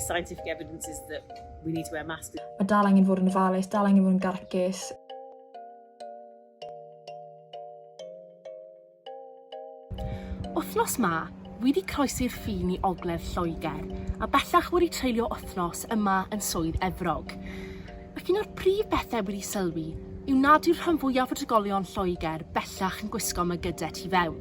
Scientific evidence is that we need to wear masks. Mae dal angen fod yn ofalus, dal angen fod yn garcus. Wythnos ma, wi wedi croesi'r ffin i ogledd Lloegr, a bellach wedi treulio wythnos yma yn Swydd Efrog. Ac un o'r prif bethau wedi sylwi yw nad yw'r rhan fwyaf o drigolion Lloegr bellach yn gwisgo mygydau tu fewn.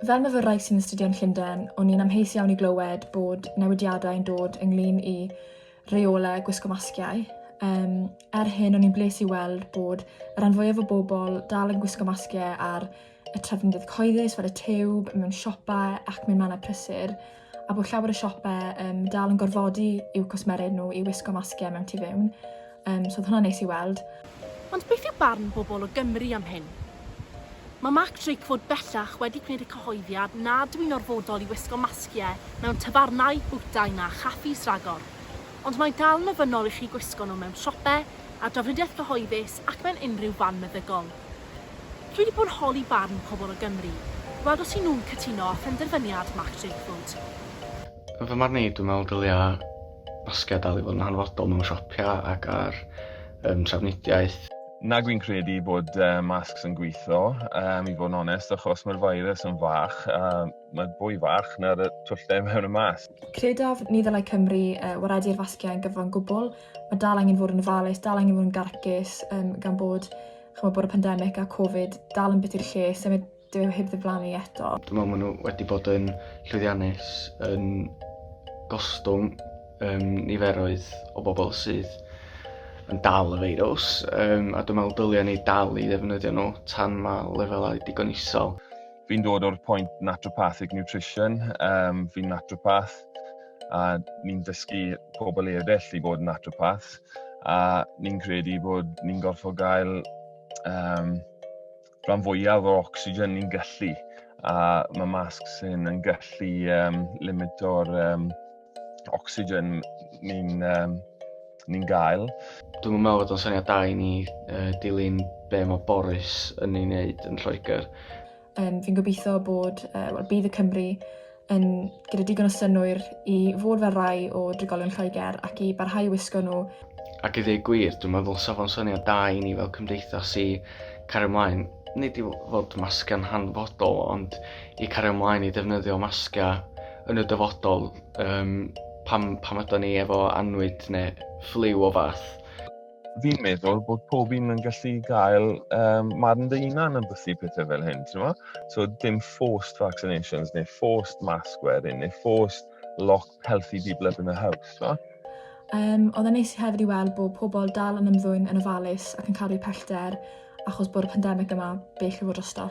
Fel myfyrwraig sy'n astudio yn Llundain, o'n i'n amheus iawn i glywed bod newidiadau yn dod ynglyn i reolau gwisgo masgiau. Um, er hyn, o'n i'n bles i weld bod y rhan fwyaf o bobl dal yn gwisgo masgiau ar y trefnydd cyhoeddus fel y tiwb, mewn siopau ac mewn mannau prysur, a bod llawer o siopau um, dal yn gorfodi i'w cwsmeriaid nhw i wisgo masgiau mewn tu fewn. Um, so oedd hwnna'n neis i weld. Ond beth yw barn bobl o Gymru am hyn? Mae Mark Drakeford bellach wedi gwneud y cyhoeddiad nad yw'n orfodol i wisgo masgiau mewn tafarnau, bwytai na chaffis ragor. Ond mae'n dal yn ofynnol i chi gwisgo nhw mewn siopau, ar drafnidiaeth gyhoeddus ac mewn unrhyw fan meddygol. Dwi 'di bod yn holi barn pobl o Gymru, gweld os y'n nhw'n cytuno â phenderfyniad Mark Drakeford. Yn fy marn i, dwi'n meddwl dylia masgiau dal i fod yn hanfodol mewn siopia ac ar yym trafnidiaeth. Nag wy'n credu bod masks yn gweithio, yym i fod yn onest, achos mae'r virus yn fach, a mae'n fwy fach na'r twll 'da mewn y masg. Credaf ni ddylai Cymru waredu'r fasgiau yn gyfan gwbl, Mae dal angen fod yn ofalus, dal angen fod yn garcus yym gan bod ch'mo' bod y pandemic a Covid dal yn biti i'r lles a ma' dyw e heb ddiflannu eto. Dwi me'wl ma' n'w wedi bod yn llwyddiannus yn gostwng yym niferoedd o bobol sydd yn dal y feirws yym a dwi me'wl dylia ni dal i ddefnyddio nhw tan ma' lefelau digon isel. Fi'n dod o'r pwynt naturopathic nutrition yym fi'n naturopath a ni'n dysgu pobl eraill i fod yn naturopaths a ni'n credu bod ni'n gorfod gael um, rhan fwyaf o'r oxygen ni'n gallu a mae masks hyn yn gallu um, limito'r um, oxygen ni'n um, ni gael. Dwi'n meddwl bod o'n syniad da i ni uh, dilyn be mae Boris yn ei wneud yn Lloegr Um, fi'n gobeithio bod, uh, well, bydd y Cymru yn gyda digon o synwyr i fod fel rai o drigolion Lloegr ac i barhau wisgo nhw. Ac i ddweud gwir, dwi'n meddwl sef o'n syniad da i ni fel cymdeithas i cario ymlaen, nid i fod masga'n hanfodol, ond i cario ymlaen i defnyddio masga yn y dyfodol um, pam, pam ydyn ni efo anwyd neu fflyw o fath. fi'n meddwl bod pob un yn gallu gael um, marn dy unan yn bythu pethau fel hyn, ti'n ma? So dim forced vaccinations, neu forced mask wearing, neu forced lock healthy people up in the house, ti'n ma? Um, oedd yn neis hefyd i weld bod pobl dal yn ymddwyn yn ofalus ac yn cadw pellter achos bod y pandemig yma bell i fod drosto.